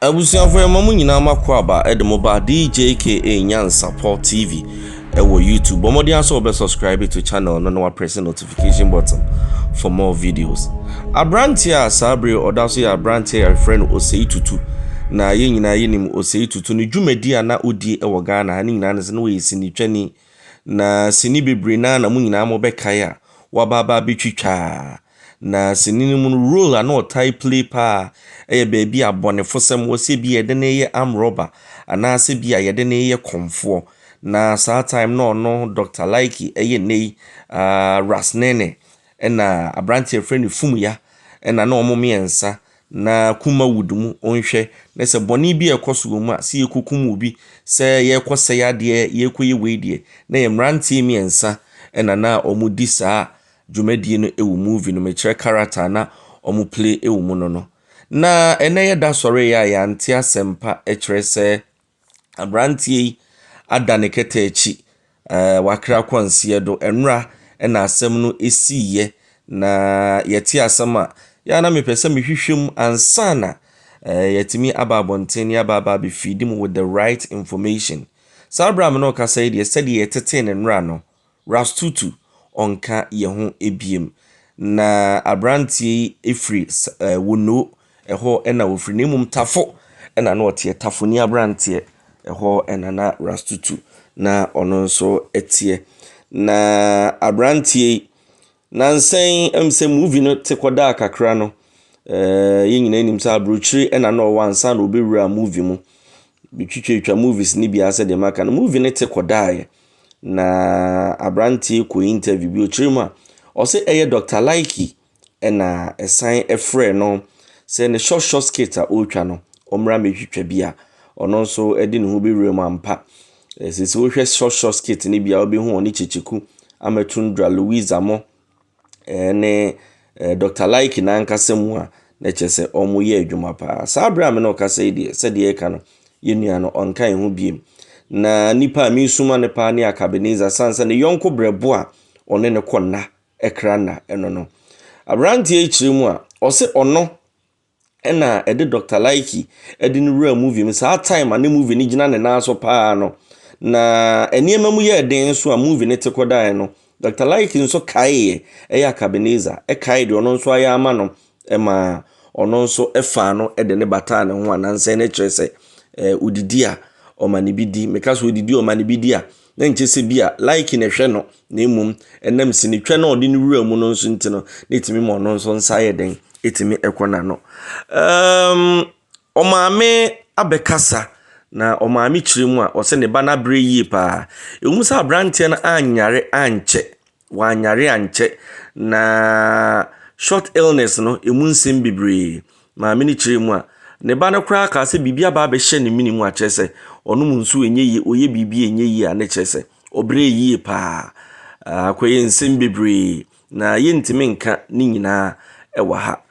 Abusuafo yɛma mo nyinaa mo akwaaba de mo ba DJKA Nyansapɔ TV ɛwɔ YouTube bɔ mmɔden asɛ wɔbɛ subscribe to channel no na wapress notification button for more videos abranteɛ a saa bere ɔda so yɛ abranteɛ a yɛfrɛ no Osei Tutu na yɛn nyinaa yɛnim Osei Tutu ne dwumadi a na ɔdie ɛwɔ Ghana ha ne nyinaa ne sɛ na wɔyɛ sinitwani na sini bebree naa na mo nyinaa mo bɛkae a wabaabaa bɛtwitwaa Na sini no mu no role a na ɔtaa play paa yɛ baabi a abɔnefosɛm wɔ, sɛ bi a yɛde no yɛ arm robber anaasɛ bi a yɛde no yɛ kɔmfoɔ. Na saa time no ɔno Doctor Laiki yɛ nnɛ yi aah Ras Nene ɛna aberanteɛ a yɛfrɛ no Fumuya ɛna na wɔn mmiɛnsa na Kuma Wood mu nhwɛ na sɛ bɔne bi a ɛkɔ so wɔ mu a sɛ yɛkɔkum obi, sɛ yɛrekɔ sɛe adeɛ, yɛrekɔyɛ wei deɛ na yɛ mmeranteɛ mmiɛnsa ɛna na wɔdi saa dwumadie no ɛwɔ movie no mu ɛkyerɛ character a na ɔmo play ɛwɔ mu no no na ɛnɛ yɛ da sɔree a yɛante asɛmpa ɛkyerɛ sɛ abranteɛ yi ada ne kɛtɛ akyi ɛɛ wakra kwansie do ɛnora ɛna asɛm no ɛsiiɛ na yɛte asɛm a yɛ na mepɛ sɛ mehwehwɛ mu ansana ɛɛ yɛtumi aba abɔnten ne aba aba abɛfiidi mu with the right information saa berɛ a me ne ɔkasa yi deɛ sɛdeɛ yɛtetee ne nora no Rastutu ɔnka yɛn ho ebiem. Na aberanteɛ yi firi s ɛɛ Wonnoo, ɛhɔ na ɔfiri, na mmom Tafo na na ɔteɛ, Tafoni aberanteɛ, ɛhɔ na na Rastutu na ɔno nso teɛ. Na aberanteɛ yi. Nansa yi ɛm sɛ movie no te kɔ daa kakra no eh, yɛn nyinaa nim sɛ aburokyire ɛna na ɔwɔ ansa na ɔbɛwura movie mu bɛtwitwatwa movies no biara sɛ deɛ maka no movie no te kɔ daeɛ na aberanteɛ kɔ interview bi ɔkyerɛ mu a ɔsɛ ɛyɛ Dr. Laiki ɛna ɛsan ɛfrɛ no sɛ ne short short skit a ɔretwa no ɔmmra mɛtwitwa bi a ɔno nso ɛde ne ho bɛwura mu ampa Ɛsɛ sɛ wohwɛ short short skit no bi a wobɛhu wɔn ne Kyekyeku, Amatundra, Louis Zamɔ ne Dr. Laiki n'ankasa mu a na kyerɛ sɛ wɔyɛ adwuma paa. Saa berɛ a me na ɔkasa yi deɛ sɛdeɛ ɛka no yɛn nua no ɔnka ɛho biem. Na nipa a mesuma no paa ne Akabeniza san sɛ ne yɔnko brɛbo a ɔne ne kɔ nna ɛkra nna ɛno no. Aberanteɛ yi kyerɛ mu a ɔse ɔno ɛna ɛde Dɔkta Laiki ɛde no wuraa movie mu saa time a ne movie no gyina ne nan so paa no na nneɛma mu yɛɛ den nso a movie no te kɔ daeɛ no Dɔkta Laiki nso kaeɛ ɛyɛ Akabeneza ɛkae deɛ ɔno nso ayɛ ama no ɛma ɔno nso ɛfaa no ɛde ne bataa ne ho anansɛ no kyerɛ sɛ ɛɛ odidi a ɔma ne bi di meka so odidi ɔma ne bi di a Na ɛnkyɛ sɛ ebia like na ɛhwɛ no, na mmom ɛnam sinitwa no a ɔde ne wura mu no nso nti no, na ɛtumi ma ɔno nso nsa yɛ den, ɛtumi kɔ n'ano. Um, ɔmaame abɛkasa na ɔmaame kyerɛ mu a ɔsɛ ne ba no abrɛ yie paa. Ɛwom sɛ aberanteɛ no anyare ankyɛ. wɔanyare ankyɛ, na short illness no, ɛmu nsɛm bebree. Maame no kyerɛɛ mu a, ne ba no koraa kaa sɛ biribi aba abɛhyɛ ne mene mu a, kyerɛ sɛ ɔnom nsuo ɛnyɛ yie, ɔyɛ biribi a ɛnyɛ yie a, ne kyerɛ sɛ ɔbrɛ yie paa. Akɔyɛ nsɛm bebree, na yɛntumi nka ne nyinaa ɛwɔ ha.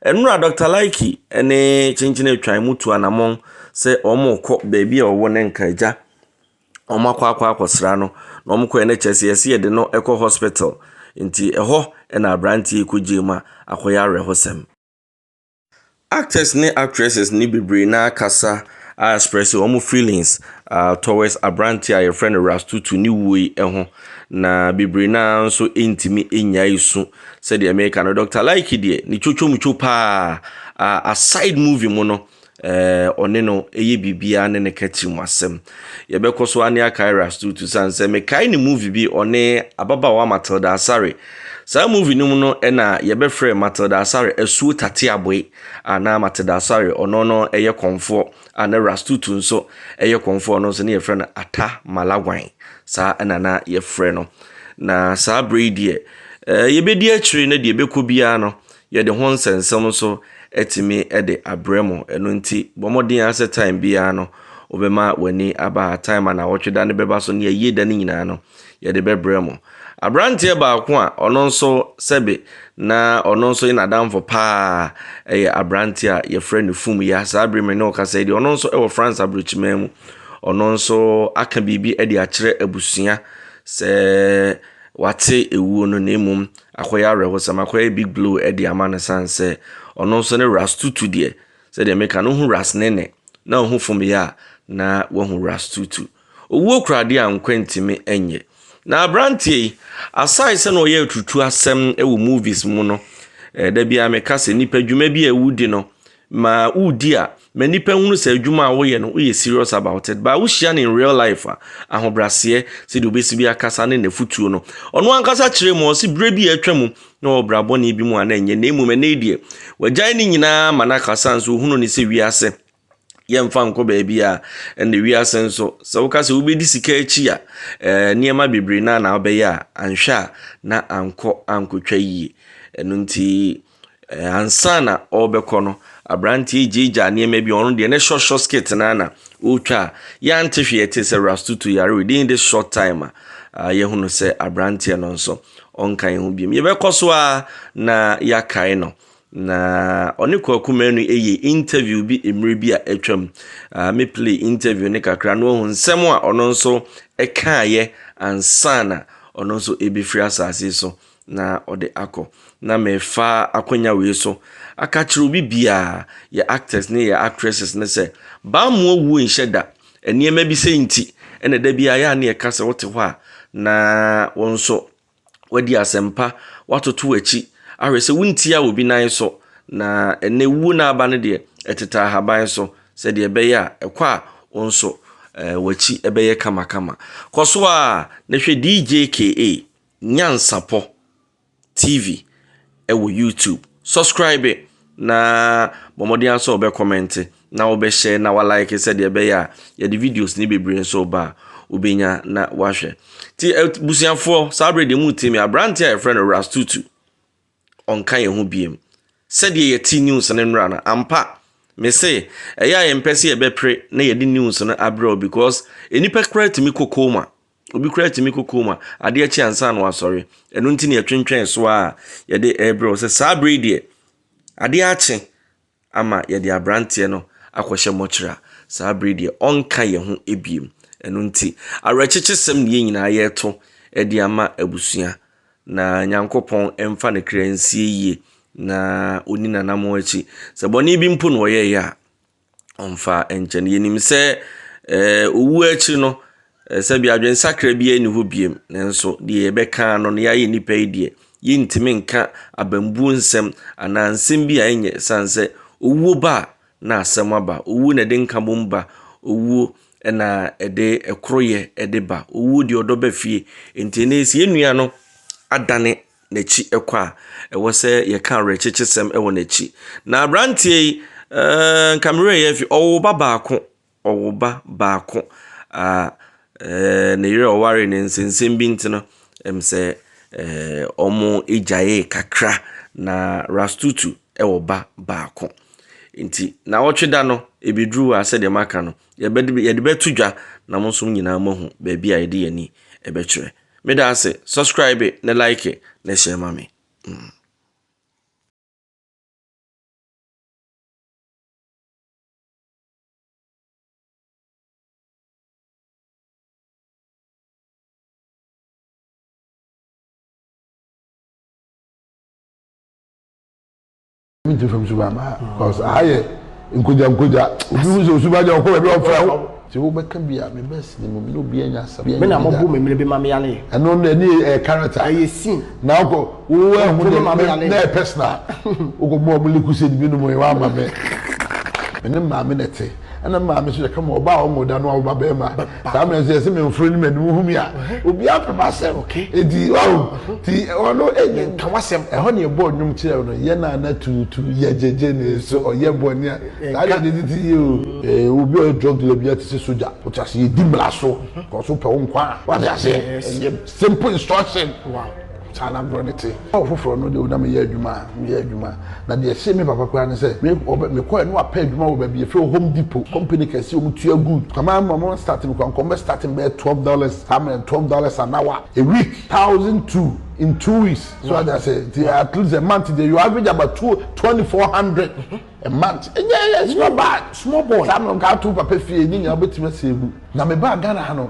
Ɛnora Dr. Laiki ne Kyenkyene Atwan mu tu anamɔn sɛ wɔrekɔ baabi a ɔwɔ no nka agya. Wɔn akɔ akɔ akɔsra no. Na wɔn kɔɛ no kyerɛ sɛ yɛse yɛde no kɔ hospital. Nti ɛhɔ na abranteɛ yi kɔgyee mu a akɔyɛ awerɛhosɛm. Actors ne actresses no bebree no ara kasa a express wɔn feelings towards abranteɛ a yɛfrɛ no Rastutu ne wuo yi ho. Na bebree no ara nso ntumi nnyae su. Sɛdeɛ meka no Doctor Lyke deɛ ne twotwomtwo paa aside movie mu no Ɛɛ, ɔne no yɛ biribiara ne ne ka tirim asɛm. Yɛbɛkɔ so ara ne Akira Astutu sane sɛ mekae ne movie bi ɔne ababaawa Matilda Asare. Saa movie no mu no na yɛbɛfrɛ Matilda Asare Asuo Tateaboe a na Matilda Asare ɔno no yɛ kɔmfoɔ a na Rastutu nso yɛ kɔmfoɔ ɔno nso ne yɛfrɛ no Ata Malagwan. Saa na na yɛfrɛ no. Na saa berɛ yi deɛ, ɛɛ yɛbɛdi akyire na deɛ ɛbɛkɔ biara no Yɛde ho nsɛnsɛm nso atumi de abrɛ mo. Ɛno nti, bɔ mmɔden ara sɛ time biara no, wobɛma w'ani aba ha. Time a Nnawɔtwe Da no bɛba so ne Ayie Da no nyinaa no, yɛde bɛbrɛ mo. Aberanteɛ baako a ɔno nso sɛbe na ɔno nso yɛ n'adamfo paa yɛ aberanteɛ a yɛfrɛ no Fumya. Saa bere me ne wo kasa yi deɛ, ɔno nso wɔ France aburokyiman mu. Ɔno nso aka biribi de akyerɛ abusua sɛ wate ewuo no na mmom Akɔyɛ awerɛhosɛm, akɔyɛ big blue ɛde ama no sane sɛ ɔno nso ne ras tutu deɛ sɛdeɛ meka no hu ras nene na ɔhu fom yɛ a na wahu ras tutu owuo koraa deɛ a nkwa ntimi ɛnyɛ na abranteɛ yi aside sɛ na ɔyɛ atutu asɛm wɔ movies mu no eh, da biara meka sɛ nipa dwuma bi a ɛwudi no Ma wo di a ma nnipa nhunu sɛ adwuma a woyɛ no woyɛ serious about it but wohyia no in real life a ahobraseɛ sɛdeɛ obɛsi bi akasa ne nafutuo no ɔno ankasa kyerɛ mu ɔse berɛ bi a atwa mu na ɔwɔ brabɔne bi mu a na ɛnyɛ na mmom ɛnɛ deɛ wagyae ne nyinaa ma no akasa nso ohunu ne sɛ wiase yɛmfa nkɔ baabi a ɛnna wiase nso sɛ woka sɛ wobɛdi sika akyi a ɛɛ nneɛma bebree na na wobɛyɛ a anhwɛ a na ankɔ ankɔtwa yie ɛno nti Ansa na ɔrebɛkɔ no, aberanteɛ yi gyaagyaa nneɛma bi. Ɔno deɛ ne short short skirt no ara na ɔretwa a yɛante hwee a ɛte sɛ Rastutu yare within this short time a ah, yɛhunu sɛ aberanteɛ no nso ɔnka yɛn ho biom. Yɛbɛkɔ so ara na yɛakae no. Na ɔne Kwaku Manu yɛ interview bi mmerɛ bi a atwam. Ah, me play interview ne kakra na wahu nsɛm a ɔno nso ɛkaeɛ ansa na ɔno nso ɛbɛfiri asase so. na ɔde akɔ na mefa akwanya wei so aka kyerɛ obi biara yɛ actors ne yɛ actresses ne sɛ bammo awuo nhyɛ da nneɛma bi sɛ nti ɛna da biara yɛ a ne yɛka sɛ wote hɔ a na wɔn nso wadi asɛmpa watoto akyi ahwɛ sɛ wontia obi nan so na ɛnɛ wuo no aba no deɛ ɛteta ahaban so sɛdeɛ ɛbɛyɛ a ɛkɔ a wɔn nso eh, wakyi ɛbɛyɛ kamakama kɔ so a na hwɛ DJKA Nyansapɔ TV wɔ YouTube. Subscribe na bɔ mmɔden ara sɛ wobɛkɔmmɛnte na wobɛhyɛ na walike sɛdeɛ ɛbɛyɛ a yɛde videos ne bebree nso ba a wobɛnya na wahwɛ. Nti abusuafoɔ saa berɛ deɛ mu ti me aberanteɛ a yɛfrɛ no Rastutu. ɔnka yɛn ho biom. Sɛdeɛ yɛte news no nnora no, ampa, mese, ɛyɛ a yɛmpɛ sɛ yɛbɛpere na yɛde news no abrɛ wo because nnipa koraa tumi kɔ coma. Obi koraa tumi kɔ coma, adeɛ kye ansa na wasɔre. Ɛno nti na yɛtwentwɛn so a yɛde ɛrebrɛ wo sɛ saa berɛ yi deɛ, adeɛ akye, ama yɛde aberanteɛ no akɔhyɛ mɔkyere a, saa berɛ yi deɛ ɔnka yɛn ho bio. Ɛno nti, awerɛkyekyesɛm na yɛn nyinaa yɛreto de ama abusua, na Nyankopɔn mfa ne kra nsie yie, na ɔnni n'anammɔn akyi. Sɛ bɔne bi mpo na ɔyɛeɛ a, ɔmfa nkyɛ no. Yɛnim sɛ ɛɛ owuo akyi no, Ɛɛ, sɛbi adwensakra biara nni hɔ bio, nanso deɛ yɛbɛka ara no, na yɛayɛ nnipa yi deɛ, yɛntumi nka abambuo nsɛm anaa nsɛm bi a ɛnyɛ, ɛsiane sɛ owuo ba a, na asɛm aba. Owuo na ɛde nkabom ba. Owuo na ɛde ɛkoroyɛ ɛde ba. Owuo deɛ ɔdɔ ba fie. Nti ɛnnɛ yi, sɛ yɛn nua no adane n'akyi kɔ a, ɛwɔ sɛ yɛka awerɛkyekyesɛm wɔ n'akyi. Na aberanteɛ yi, ɛɛ, nka me werɛ reyɛ afi, ɔwoo ba baako. ɔwoba baako a ɛɛ ne yere a ɔwaree no nso nsɛm bi nti no, ɛm sɛ ɛɛ wɔgyaee kakra. Na Rastutu wɔ ba baako. Nti nnawɔtwe da no, ɛbɛduru hɔ a sɛdeɛ maka no, yɛbɛde yɛde bɛto dwa na mo nso mo nyinaa moahu baabi a yɛde yɛn ani bɛkyerɛ. Meda ase. Subscribe na like na share ma me. Mm. mi ti fam suba ma cause aha yɛ nkoja nkoja obi hu sɛ osuba gya ɔkɔ baabi ɔfrɛ wo sɛ wobɛka bi a mebɛ sini mu mene obi anya asɛm me na mɔbo me mene bi ma me yale ɛno ne ɛne ɛyɛ character ɛyɛ scene na ɔkɔ Wo ɛ ho deɛ me na ɛ personal wo kɔ mo a ɔmo li kusɛdi bi nom ɛ wa ama me me ne maame na ɛte ɛna me maame so yɛ kama ɔba a ɔmo da no a ɔba bɛɛma saa mɛ nso yɛ se me nforo ni mɛ nimu hu mi a obi apɛ ma sɛm edi wahu ti ɔno ɛ yɛ nka wa sɛm ɛhɔ ne ɛbɔ ɔnyom kyerɛ ɔno yɛ na na tuutu yɛ gyegye ne so ɔyɛ bɔ ne a saa yɛ de ti yɛ o ɛ obi ɔyɛ drug dealer bi a ti se soja o ti ase yɛ di mla so kɔso pɛ wo nkwa a wa ti ase yɛ simple instruction. Saa na agorɔ no te. Ná ɔfoforɔ no deɛ ɔda meyɛ adwuma a, meyɛ adwuma. Na deɛ ɛhyee me papa koraa ne sɛ, me ɔbɛ mekɔɛ na wapɛ adwuma wɔ baabi yɛfrɛ hɔ Home Depot, company kɛse, wɔn tua good. Kwame ama wɔn start me koraa, nka wɔn bɛ start me bɛyɛ twelve dollars, saa mmerɛ no, twelve dollars an hour, a week, thousand two in two weeks. So wate aseɛ, nti at least a month deɛ you average about two, twenty four hundred Mant, Ɛnyɛ yɛ nso na baa small boy saa no nka ato papa fie ne nyinaa wobɛtumi asɛe mu. Na me baa Ghana ha no.